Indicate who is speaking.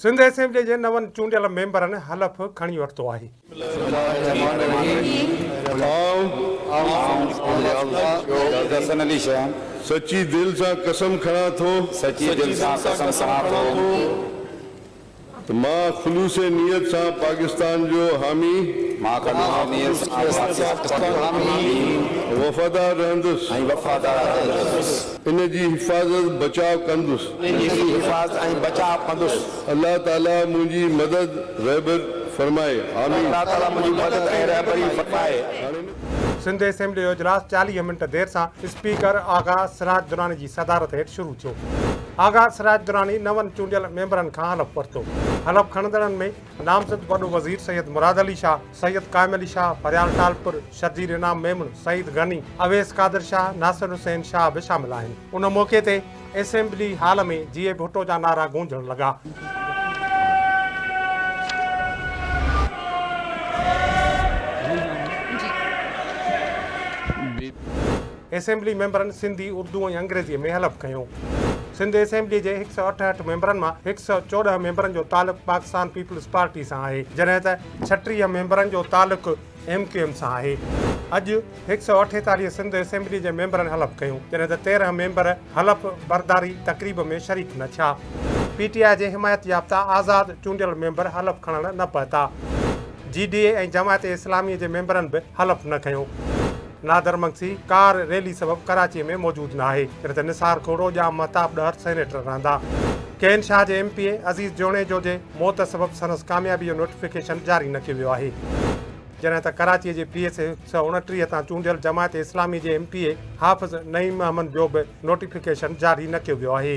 Speaker 1: Sindh assembly جي نون چونڊيل ميمبرن حلف کڻي ورتو آهي.
Speaker 2: سچي دل سان قسم کڻان ٿو. ته مان خلوص نيت سان پاڪستان جو حامي. وفادار رهندس. ان جي حفاظت بچاء ڪندس. ان جي حفاظت ۽ بچاء ڪندس. الله تعاليٰ منهنجي مدد رهبر فرمائي. آمين. الله تعاليٰ منهنجي مدد ۽ رهبري
Speaker 1: فرمائي. سنڌ اسيمبلي جو اجلاس چاليهه منٽ دير سان اسپيڪر آغا سراج دراني جي صدارت هيٺ شروع ٿيو. آغا سراج دراني نون چونڊيل ميمبرن کان حلف ورتو. حلف کڻندڙن ۾ نامزد وڏو وزير سيد مراد علي شاهه، سيد قائم علي شاهه، پريال ٽالپر، شرجيل انعام ميمڻ، سعيد غني، اويس قادر شاهه، ناصر حسين شاهه به شامل آهن. ان موقعي تي اسيمبلي هال ۾ جيئي ڀٽو جا نعرا گونجڻ لڳا. اسيمبلي ميمبرن سنڌي، اردو ۽ انگريزيء ۾ حلف کنيو. سنڌ اسيمبلي جي هڪ سؤ اٺهٺ ميمبرن مان هڪ سؤ چوڏهن ميمبرن جو تعلق پاڪستان پيپلز پارٽي سان آهي، جڏهن ته ڇٽيهه ميمبرن جو تعلق ايم ڪيو ايم سان آهي. اڄ هڪ سؤ اٺيتاليهه سنڌ اسيمبلي جي ميمبرن حلف کنيو، جڏهن ته تيرهن ميمبر حلف برداري تقريب ۾ شريڪ نه ٿيا. پي ٽي آء جي حمايت يافته آزاد چونڊيل ميمبر حلف کڻڻ نه پهتا. جي ڊي اي ۽ جماعت اسلامي جي ميمبرن به حلف نه کنيو. نادر مگسي ڪار ريلي سبب ڪراچي ۾ موجود نه آهي، جڏهن ته نثار کهڙو، ڄام مهتاب ڏهر سينيٽر رهندا. ڪين شاهه جي M P A Aziz Junejo جي موت سبب سندس ڪاميابي جو نوٽيفڪيشن جاري نه ڪيو ويو آهي. جڏهن ته ڪراچي جي پي ايس اي هڪ سؤ اڻٽيهه تان چونڊيل جماعت اسلامي جي M P A Hafiz Naeem Ahmed جو به نوٽيفڪيشن جاري نه ڪيو ويو آهي.